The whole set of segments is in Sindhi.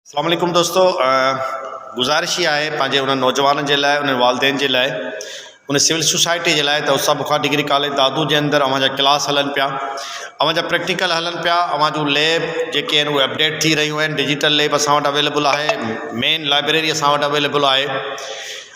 اسلام عليڪم دوستو گذارش اها آهي پنهنجي انهن نوجوانن جي لاء انهن والدين جي لاء ان سول سوسائٽي جي لاء ته استاد بخار ڊگري ڪاليج دادو جي اندر اوهان جا ڪلاس هلن پيا اوهان جا پريڪٽيڪل هلن پيا اوهان جون ليب جيڪي آهن اهي اپڊيٽ ٿي رهيون آهن ڊجيٽل ليب اسان وٽ اويليبل آهي مين لائبريري اسان وٽ اويليبل آهي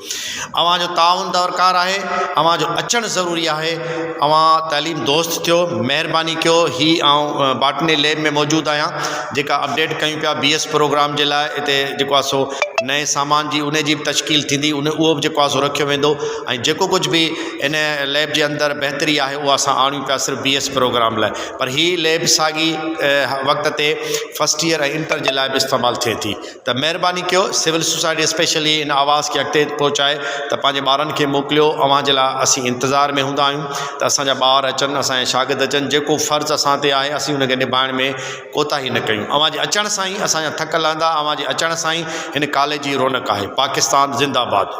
اوهان جو تعاون درڪار آهي اوهان جو اچڻ ضروري آهي اوهان تعليم دوست ٿيو مهرباني ڪيو هي آئون باٽني ليب ۾ موجود آهيان جيڪا اپڊيٽ ڪيون پيا بي ايس پروگرام جي لاء هتي جيڪو آهي سو نئين سامان جي ان جي به تشڪيل ٿيندي ان اهو به جيڪو آهي سو رکيو ويندو ۽ جيڪو ڪجهه به ان ليب جي اندر بهتري آهي اها اسان آڻيون پيا صرف بي ايس پروگرام لاء پر هي ليب ساڳي وقت تي فسٽ ايئر ۽ انٽر جي لاء به استعمال ٿئي ٿي ته مهرباني ڪيو سول سوسائٽي اسپيشلي ان آواز کي اڳتي پهچائي ته پنهنجي ٻارن کي موڪليو اوهان جي لاء اسين انتظار ۾ هوندا آهيون ته اسان جا ٻار اچن اسان جا شاگرد اچن جيڪو فرض اسان تي آهي اسين ان کي نڀائڻ ۾ ڪوتاهي نه ڪيون اوهان جي اچڻ سان ئي اسان جا ٿڪ لهندا اوهان جي اچڻ سان ئي هن ڪاليج جي رونق آهي پاڪستان زنده باد.